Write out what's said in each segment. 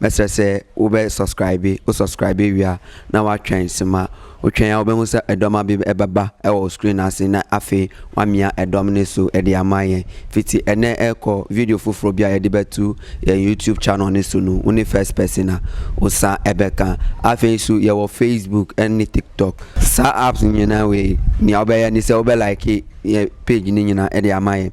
Mesre se wo be sɔskraibe, wo sɔskraibe wia na wa twen si ma wo twen ya wo be ŋuse edɔ ma bi e baba e wɔ wo screen a si na afe wa mia edɔ mi ne so edi a ma yen fiti e ne e kɔ video fofro bia e di be tu yen YouTube channel ni su nu wo ni first person a wo sa e be kan afe yi su ye wɔ Facebook en ni TikTok sa apps ni nyina we ni a wo be e ni se wo be like yen page ni nyina edi a ma yen.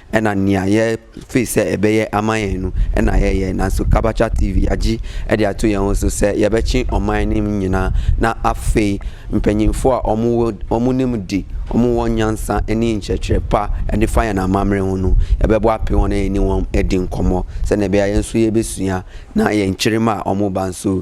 Ena nia yɛ fee se ebe yɛ ama yɛ nu. Ena yɛ yɛ na so kabacha TV ya ji. Eɖia to yɛ ŋ so se yɛbe ci ɔ ma yɛ ni ŋ nyina na a fee. Ŋpe nyi ŋ fɔa ɔ mu wo ɔ mu ni ŋ ɖi. Ɔ mu wɔ nya ŋ san eni ŋ cɛ cɛ pa ɛ ni fa yɛ na ma mle ŋ nu. Ebe bɔ a pe wɔn ɛ ni wɔm ɛ ɖi ŋ kɔmɔ. Se nɛ be ya yɛ ŋ so yɛ be suya na yɛ ŋ ciri ma ɔ mu ba ŋ so.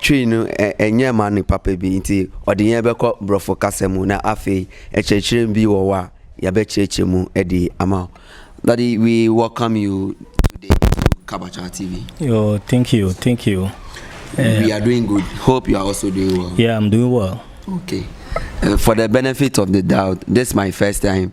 Tsui nu e enyɛ ma nu pape bi nti ɔdi nyɛ be kɔ brɔfo kase mu na afe etsɛ tsri bi wɔ wa ya be tsɛ tsɛ mu edi ama o. Daddy we welcome you today to Kabacha TV. Yo, thank you, thank you. Uh, we are doing good. Hope you are also doing well. Yeah, I'm doing well. Okay. Uh, for the benefit of the doubt, this is my first time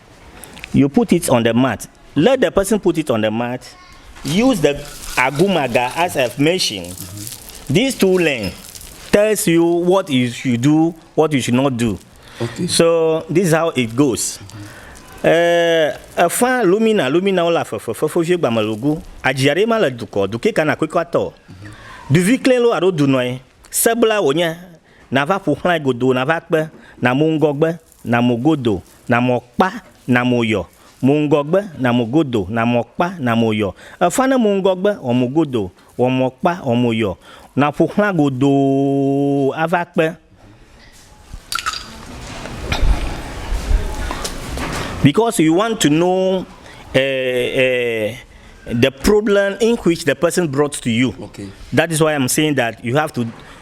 you put it on the mat let the person put it on the mat use the agumaga as a machine this two lane tells you what you should do what you should not do okay. so this is how it goes eh, efã lumina lumina wole afefe fefevie gbamelogu adziaɖe ma le dukɔ duke kana kwekɔ atɔ duvi klẽ lo alo dunɔe sebla wònye nava ƒoxlae godoo nava kpe namu ŋgɔgbe na mo godo, na mo kpa, na mo yɔ, mo ŋgɔgbe, na mo godo, na mo kpa, na mo yɔ, efa ne mo ŋgɔgbe, wɔ mo godo, wɔ mo kpa, wɔ mo yɔ, na ƒo xlã godoo ava kpe. Because you want to know uh, uh, the problem in which the person brought to you. Okay. That is why I'm saying that you have to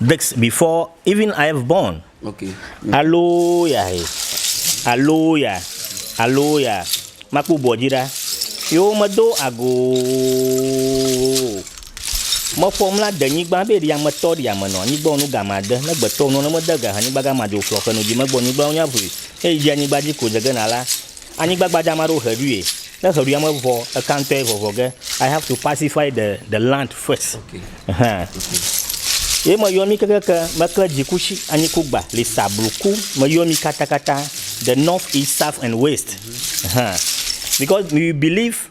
This before even I have born. Okay. Aloya he. Aloya. Aloya. Makpɔ bɔ dzi ɖa. Yewo medo ago. Mefɔ mla de nyigba be ɖi ame tɔ ɖi ame nɔ anyigba nu gama de ne gbetɔ nu ne mede ga anyigba gama de oflɔ ke nu dzi megbɔ nyigba nya ʋui. Eyi dzi anyigba dzi ko dze gena la. anyigba gbadza ame aɖewo ʋe ɖuie. Ne ʋe ɖuia me vɔ eka ŋutɔe vɔvɔ ge I have to pacify the the land first. Okay. Hã. Ye me yɔ mi kekeke me kle dziku shi anyi ku gba le sa blu ku me yɔ mi kata kata the north east south and west. Hã. Because you believe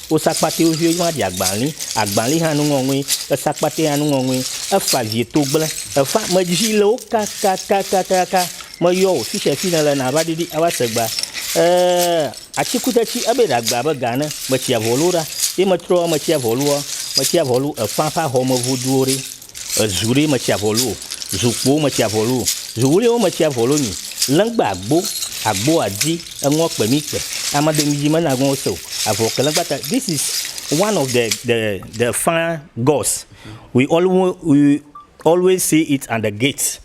Wosa kpatɛ wo viwo ma ɖi agbali agbali hã nuŋɔŋui esa kpatɛ hã nuŋɔŋui efa vie to gble efa me dzi le wo kaka kaka kaka me yɔ wo fisha fi ne le na va ɖiɖi ava se gba ee atikute tsi ebe ɖa gba be ga ne me tsi avɔlu ɖa ye me trɔ me tsi avɔlu me tsi avɔlu efa fa hɔ me voduo ɖe Ezu ɖee metsi avɔlu o, zu kpowo metsi avɔlu o, zu ɣliwo metsi avɔlu nyi, lɛngba agbo, agbo adi, eŋɔ kpe mi kpe, amado mi dzi me na ŋɔwo se o, avɔ ke lɛngba ta this is one of the the the fire gods we always we always see it at the gate.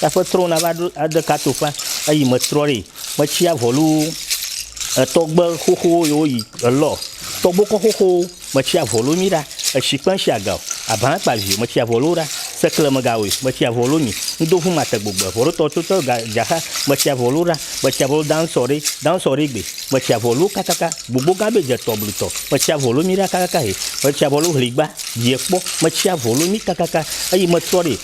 Taƒe trɔ nava ɖo ade kato ƒa eyi me trɔ ɖi metsi avɔlu etɔgbe xoxo yi wo yi elɔ tɔgbo kɔ xoxo metsi avɔlu mi ɖa etsi kpe ŋtsi agao abã kpa vi metsi avɔlu ɖa sekle me gawe metsi avɔlu mi ŋdo ʋu mate gbogbe vɔ ɖo tɔ tso tɔ ga dzaxa metsi avɔlu ɖa metsi avɔlu dan sɔ ɖi dan sɔ ɖi gbe metsi avɔlu kakaka gbogbo gã be dze tɔ blu tɔ metsi avɔlu mi ɖa kakaka he metsi avɔlu hligba yi ekpɔ metsi avɔlu mi kakaka eyi me trɔ ɖi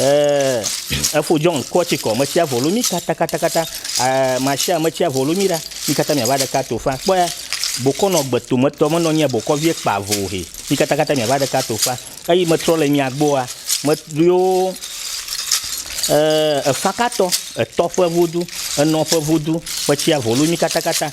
Eh, efo John kɔ tsi kɔ, metsia volo mi kata kata kata, eh, Marshal metsia volo mi ɖa, mi kata miava ɖeka to fa, kpɔya, bokɔ nɔ gbeto metɔ menɔ nyɛ bokɔ vie kpa vo he, mi kata kata miava ɖeka to fa, eyi metrɔ le mia gbɔa, me yo, eh, efa katɔ, etɔ ƒe vodu, enɔ ƒe vodu, metsia volo mi kata kata.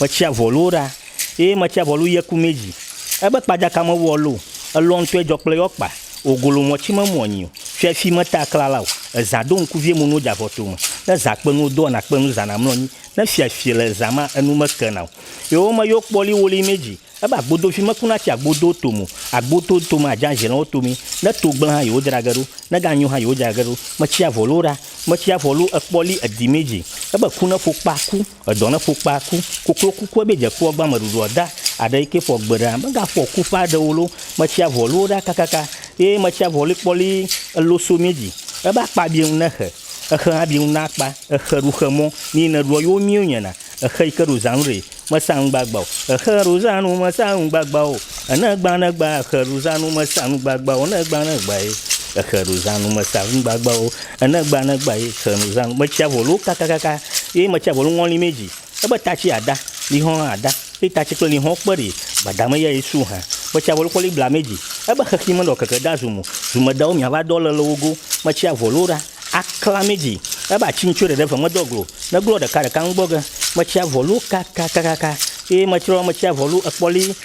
Metsia vɔluwo ɖa, eye metsia vɔlu yɛ ku mɛ ji. Ebe kpajaka mewuɔ lo, elɔ ŋtɔɛ jɔ kple yɔ kpa, ogolo mɔ ci me muɔ nyi o. Fiɛfi meta klala o. Ezã ɖo ŋku vie munuwo javɔ to me. Ne zã kpe nuwo doɔ nakpe nu zana mlɔ nyi. Ne fiɛfi le ezã ma, enu me ke na o. Yɔwo me yo kpɔ li woli mɛ ji. Ebe agbodovi meku natsi agbodowo to me o. Agbodowo to me aja ʒelɔwo to mɛ. Ne to gble han yewo dra ge ɖo. Ne gan nyo han yewo dra ge ɖo. Metsia vɔluwo ɖa. Metsia vɔlu ekpɔ li edi mɛ ji. Ebe ku ne ƒo kpa ku. Edɔ ne ƒu kpaa ku. Koklo kukue be dze kpɔ gbã meɖuɖua da aɖe yi ke ƒɔ gbe ɖa me ga ƒɔ ku ƒe aɖewo lo me tsia ʋɔluwo ɖa kakaka eye me tsia ʋɔli kpɔli elo so mí dzi ebe akpa bie ŋu ne exe exe hã bie ŋu na akpa exe ɖu xe mɔ nii ne ɖuɔ yo mí onyɛ na exe yi ke ɖo zã nu ɖe me sa nu gbagba o exe ɖo zã nu me sa nu gbagba o ene gbã ne gbã exe ɖo zã nu me sa nu gbagba o ne gbã ne gbã ye exe ɖo zã nu me sa nu gbagba o. Enegba negba yi se nu zan metsia volu kakakaka yi metsia volu ŋɔli me dzi. Ebe tatsi ada, lihɔn hã ada. Yi tatsi kple lihɔn kpe ɖi gbada me ya yi su hã. Metsia volu kɔli bla me dzi. Ebe xexi me ɖɔ keke da zu mu. Zume dawo mia va dɔ le le wogo. Metsia volu ɖa akla me dzi. Ebe atsi ŋtsue ɖeɖe ve me dɔ glo. Ne glɔ ɖeka ɖeka ŋgbɔ ge. Metsia volu kakakakaka yi metrɔ metsia volu ekpɔli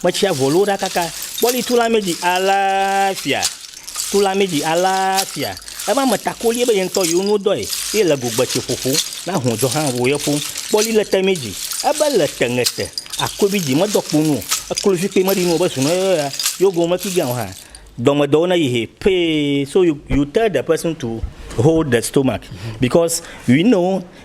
Kpetsia vɔ loo ɖakaka. Kpɔli tu la mi dzi alafia. Tu la mi dzi alafia. Ebe ame takoli ebe ye ŋutɔ yewo nuwo dɔe ye le go gbetse ƒoƒo na hɔn dzɔ hã wo ye ƒo. Kpɔli le te mi dzi ebe le te ŋe te akoebi dzi me dɔ kpo nu o. Eklo vi kpe me ɖi nu o be zunɔ ye ya yo go me ki gã o hã. Dɔ me dɔwo ne yi he pee. So you you tell the person to hold the stomach because we know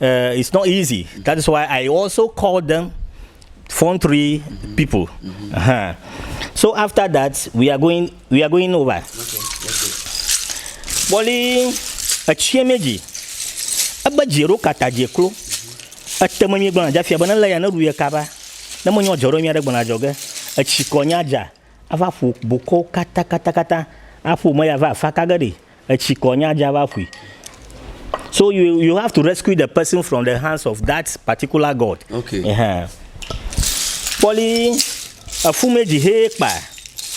Uh, it's not easy. That is why I also called them phone three mm-hmm. people. Mm-hmm. Uh-huh. So after that, we are going we are going over. Okay, Boli etsie meji. Ebe dzero kata dze klo. Ete me nyigba dza fia bena le ya ne ɖu ye kaba. Ne mo nyɔ dzɔɖo nyia ɖe gbɔna dzɔge. Etsi kɔ nya dza. Ava ƒo boko kata kata kata. Aƒo me ya va afa kage ɖi. Etsi kɔ nya dza va ƒui. So you you have to rescue the person from the hands of that particular god. Okay. Ehɛn. Kpɔli efumedzi he kpa.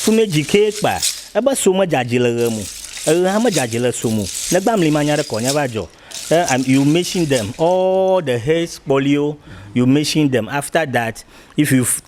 Fumedzi ke kpa. Ebe so medzadzi le ɣe mu. Eɣe hã medzadzi le so mu. Negba mli ma nya ɖe kɔ nya va dzɔ. Eh, and you mention them all the heads kpɔliwo. You mention them after that if you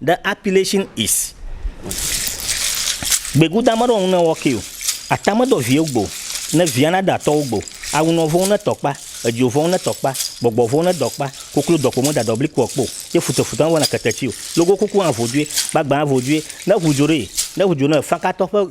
The appellation is Gbegudã meɖɔ ŋu ne wɔke o, ata medɔ viwo gbo o, ne via nada atɔwo gbo, awunɔ vɔ̃ ŋu ne tɔ kpa, edzo vɔ̃ ŋu ne tɔ kpa, gbɔgbɔ vɔ̃ ŋu ne dɔ kpa, koklo dɔkpo me dadɔ blikpo ɔ kpo, ye futɔfutɔ me vɔna keteti o, logokuku hã vo due, gbagbã hã vo due, ne ŋu dzo ɖee, ne ŋu dzo ne fankatɔ ƒe.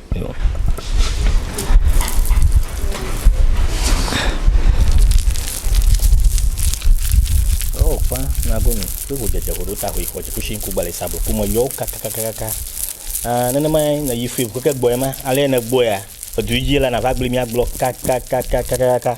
Oh, fã nago mi kple ŋudzedze ƒoɖo ta ʋui xɔ dziƒo si ŋku gbalẽ sa bloko me yɔwo kakakakaka ah, nenemae nèyi fui keke gbɔe ma ale nègbɔea edu dzi la nava gbli mía gblɔ kakakakakaka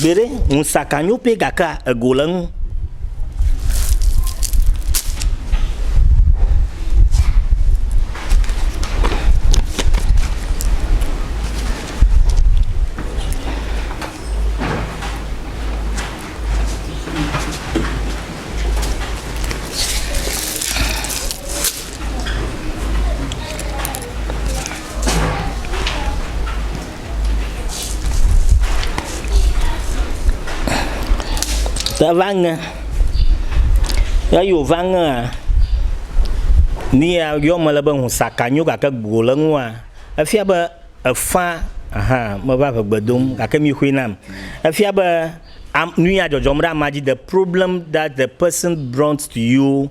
Gbeɖe, ŋusaka nyo pɛ gakea ego le ŋu. Te va ŋe, eyi wòva ŋea, nuya yɔm mele be ŋu saka nyo gake go le eŋua, efia be efã hã meva ŋegbe dom o gake mixoe nam. Efia be am nuya dzɔdzɔm ɖe amea dzi, the problem that the person brought to you.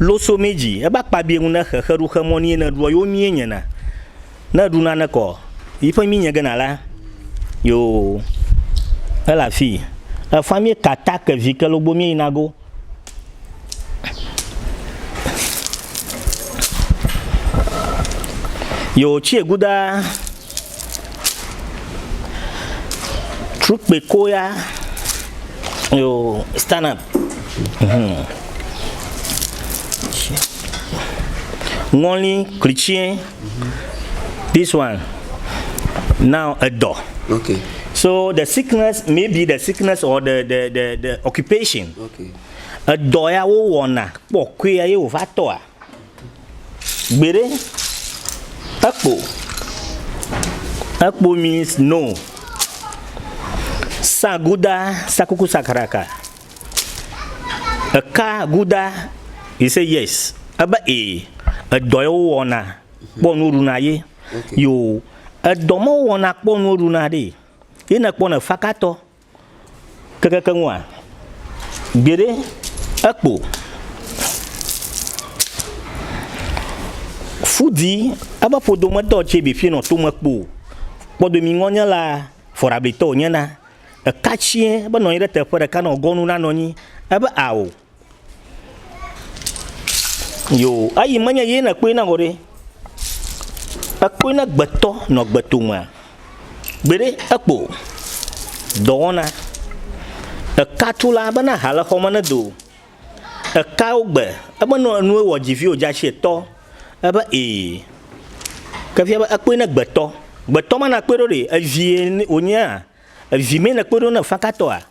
Loso mí dji ebe akpa bie nu ne xexe ɖu xe mɔ ni ye ne ɖuɔ yo mie nye na ne eɖu nane kɔ yi ƒe mí nye gena la yo ele afi efa mí ka ta ke vi ke logbo mí yi na go yo tsi eguda Trukpekooya yo stand up. Hmm. Ŋɔli klitsie. This one. Now edɔ. Okay. So the sickness maybe the sickness or the the the, the occupation. Okay. Edɔ ya wo wɔna kpɔkɔe ye wova tɔa. Gbeɖe, ekpo, ekpo means no. Saguda, sakuku sakaraka. Eka guda, you say yes. Ebe e, edɔ ye wowɔna kpɔ nu ɖuna ye. Yo, edɔ me wowɔna kpɔ nu ɖuna ɖee. Ye ne ekpɔ ne fakatɔ. Kekeke ŋua? Gbeɖe, ekpo. Fu di eƒe ƒodometɔ tse bi ƒinɔ tome kpo kpɔdomi ŋɔnyela fɔɖablitɔ wònyena. Eka tsiẽ be nɔ anyi ɖe teƒe ɖeka nɔ gɔnu na nɔnyi ebe ao. Yoo, eyi menye ye na kpɔe na vɔ ɖe. Ekpɔe na gbetɔ nɔ gbetomea? Gbeɖe, ekpɔ o. Dɔwɔna. Eka tu la bena ha le xɔ me ne do. Eka wo gbe. Ebe nɔ enu ewɔ dzi vi wodze asi etɔ. Ebe ee. Ke fia be ekpɔe na gbetɔ. Gbetɔ ma na kpɔe ɖo ɖe? Evi ye wonyea? Evi mee na kpɔe ɖo na fakatɔa?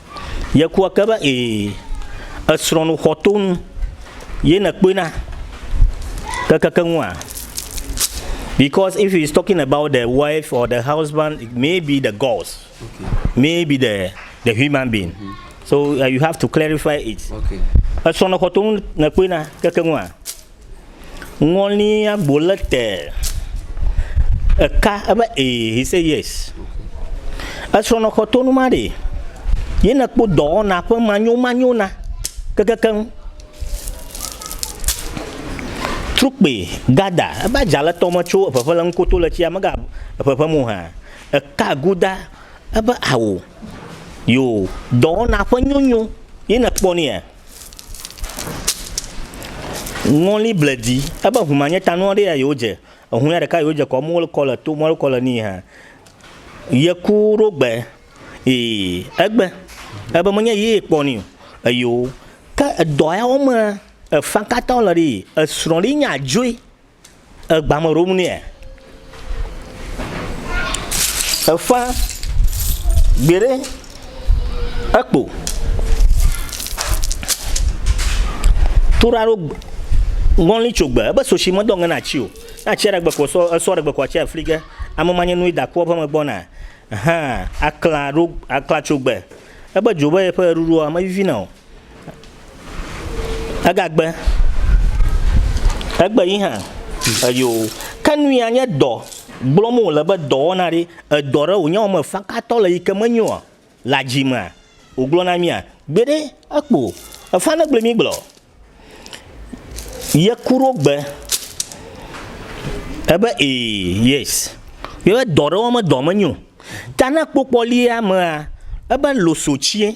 Yeku eke be, Ee, èsrɔ̃ nu xɔtonu ye nèkpɔe na kekeke ŋua? Because if he's talking about the wife or the husband, it may be the gods, may be the, the human being. So uh, you have to clarify it. Okay. Esrɔ̃ nu xɔtonu nèkpɔe na keke ŋua? Ŋɔli agbo le te. Eka ebe ee, he say yes. Esrɔnɔ xɔ tonu ma ɖe. Ye ne kpo dɔwɔna ƒe manyo manyo na kekekeŋ. Trukpe gada ebe adza le tɔme tso eƒeƒe le ŋukoto le tsia mega eƒeƒe mo hã. Eka guda ebe awo. Yo dɔwɔna ƒe nyonyo ye ne kpɔ nea. Ŋɔli ble dzi. Ebe ŋu ma nye ta nua ɖe ya yewo dze. Eŋu ya ɖeka yewo dze kɔ mɔli kɔ le to mɔli kɔ le nii hã. Ye ku ɖo gbe. Ee, egbe. Ebe me nye yee kpɔ nii. Eyo. Ke edɔ ya wɔm me efã katã wole ɖee. Esrɔ̃ ɖe nye adzoe. Ègba me ɖom nɛa? Èfã gbeɖe ekpo. Toɖaɖo ŋɔli tso gbe, ebe soshi medɔ ŋe na ci o. Na ci aɖe gbe ko esɔ, esɔ ɖe gbe ko atsi afli ge. Ame ma nye nui da kua ƒe me gbɔna. Hã akla ɖo, akla tso gbe. Ebe dzo be yeƒe ɣeɖuɖua mevivina o. Egagbe, egbe yi hã, eyo. Ke nu ya nye dɔ gblɔm wòle be dɔwɔna ɖe, edɔ ɖe wònye wɔme fakatɔ le yi ke menyoa, le adzi mea, wògblɔ na mía? Gbeɖe, ekpo o. Efã ne gblɔe mígblɔ. Ye ku ɖo gbe. Ebe ee, yes. Ye be dɔ ɖe wɔme dɔ menyo. Ta ne ekpokpɔ lia amea, ebe loso tsiɛ.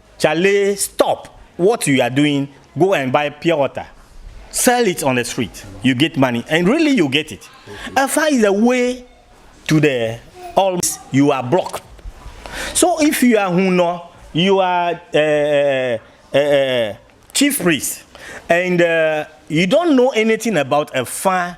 Charlie stop what you are doing go and buy pure water sell it on the street you get money and really you get it and find the way to the all you are blocked so if you are hunɔ you are uh, uh, uh, chief priest and uh, you don't know anything about a far